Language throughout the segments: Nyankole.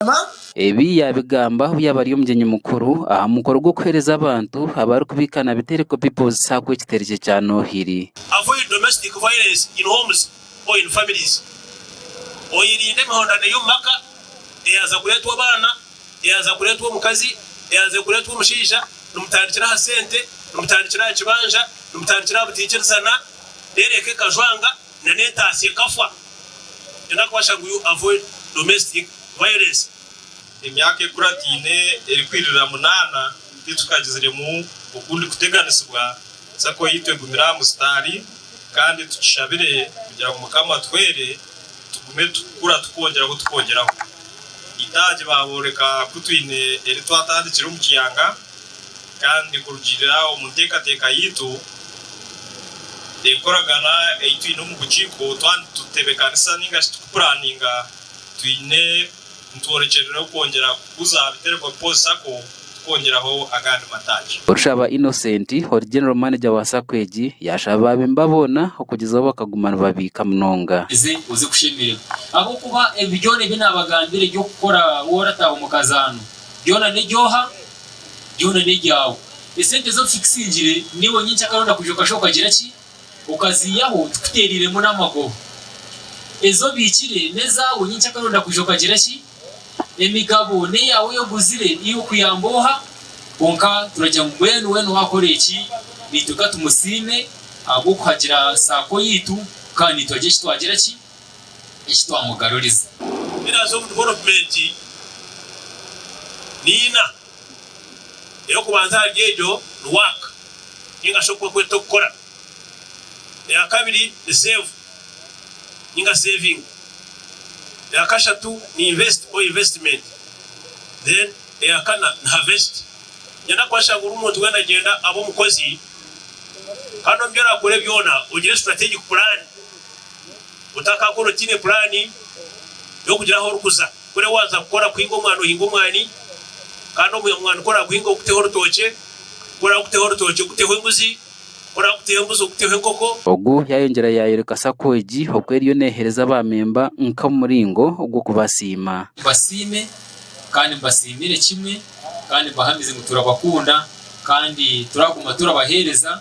Mukama. Ebi yaabigamba obu yaabaire ari omugyenyi mukuru aha mukoro gw'okuheereza abantu abarikubiika na bitereko People's Sacco ekiteregye kya Noohiri. Avoid domestic violence in homes or in families, oyerinde emihondano ey'omu maka eyaza kureetwa abaana, eyaza kureetwa omukazi, eyaza kureetwa omushaija, nimutandikira aha sente, nimutandikira aha kibanja, nimutandikira aha butaikirizana, reero eka ekajwanga. nana entaatsi ekafwa nana kuba shana ngu avoid domestic violence. Emyaka ekurataine erikwiririra munaana titukagiziremu okundi kuteganisibwa, sacco yaitu egumire aha musitaari kandi tukishabire kugira ngu Mukama atuhwere tugume tukukura tukwongyeraho tukwongyeraho. Eitaagi baabooreka ku twine eri twatandikire omu kiyanga. Kandi kurugiirira omu nteekateeka yaitu, enkoragana ei twine omu bukiiko, twaba nitutebeekanisa nainga shi turikupuraaninga, twine nitworekyerereho kwongyera kuguza aha biterekwa Bipoozi Sacco twongyeraho agandi mataagi. Orushaba Innocent ori General Manager wa Sacco egi yaashaba baabemba boona okugyezaho bakaguma nibabiika munonga. Oze oze kushemererwa ahabw'okuba ebi byona ebi naabagambira eby'okukora waarataaha omu kazaano. Byona nebyooha, byona nebyaawe. Esente z'obu kikusingire niiwe nyenkyakara oronda kwija okashuba okagira ki? Okaziiyaho tikuteereiremu n'amagoba. Ezi obiikire n'ezaawe nyenkyakara oronda kwija okagira ki? Emigabo n'eyaawe ei oguzire iwe kuyamba oha? Kwonka turagira ngu mbwenu weena owaakora eki naitwe ka tumusiime ahabw'okuhagira saako yaitu kandi naitwe hagira eki twagira ki? Eki twamugaruriza. Pillars of Development ni ina. Ey'okubanza ahari egyo ni Work ninga shi oku bakweta okukora. Eya kabiri ni Save ninga Saving. Eya kashatu ni Invest or Investment. Then eya kana ni Harvest. Nenda kubaasha ngu buri muntu weena agyenda abe omukozi kandi omu bi orakore byona ogire strategic plan Otakakora otaine puraani y'okugira ahu orikuza. Kuri waaza kukora kuhinga omwani ohinga omwani kandi ogwo mwani ku oraaguhinga oguteho orutookye, ku oraaguteho orutookye oguteho embuzi, ku oraaguteho embuzi oguteho enkoko. Ogu yaayongyera yaayoreka sacco egi oku eriyo neeheereza baamemba nk'omuringo gw'okubasiima. Mbasiime kandi mbasiimire kimwe kandi mbahamize ngu turabakunda kandi turaguma turabaheereza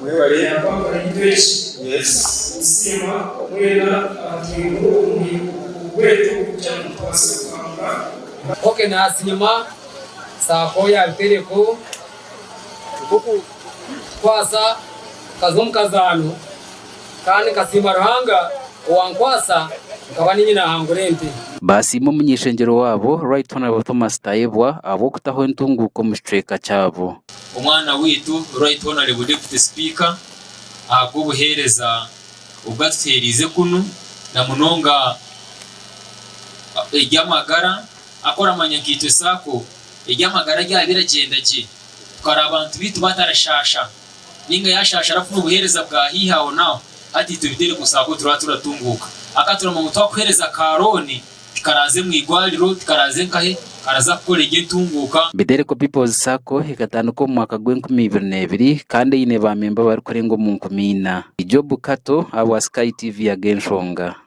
Mwebale kusiima mwena abatwireho obweto kugira ngu tubaase kuhanga. Ok nasiima sacco ya bitereko nk'okukwasa nkaza omu kazaano kandi nkasiima Ruhanga owankwasa nkaba niinye nahangura ente. Baasiima omuny'ishengyero waabo Right Honourable Thomas Tayebwa ahabw'okutaho entunguuka omu kicweka kyabo. Omwana waitu Right Honourable Deputy Speaker ahabw'obuheereza obu atuheereize kunu na munonga eby'amagara ahakuba oramanya nka itwe Sacco eby'amagara byaba biragyenda gye tukaraba abantu baitu batarashaasha nainga yaashaasha arafuna obuheereza bwa haihi aho n'aho hati itwe Biterekwa Sacco turaba turatunguuka hakuba turamanya ngu twakuheereza ka looni Tikaraaze mu igwariro, tikaraaze nkahe, karaza kukora egyo entunguuka. Biderco People's Sacco ekatandikwa omu mwaka gw'enkumi ibiri n'ebiri kandi eine baamemba abarikurenga omu nkumi ina. Job Kato ahabwa Sky TV Ag'enshonga.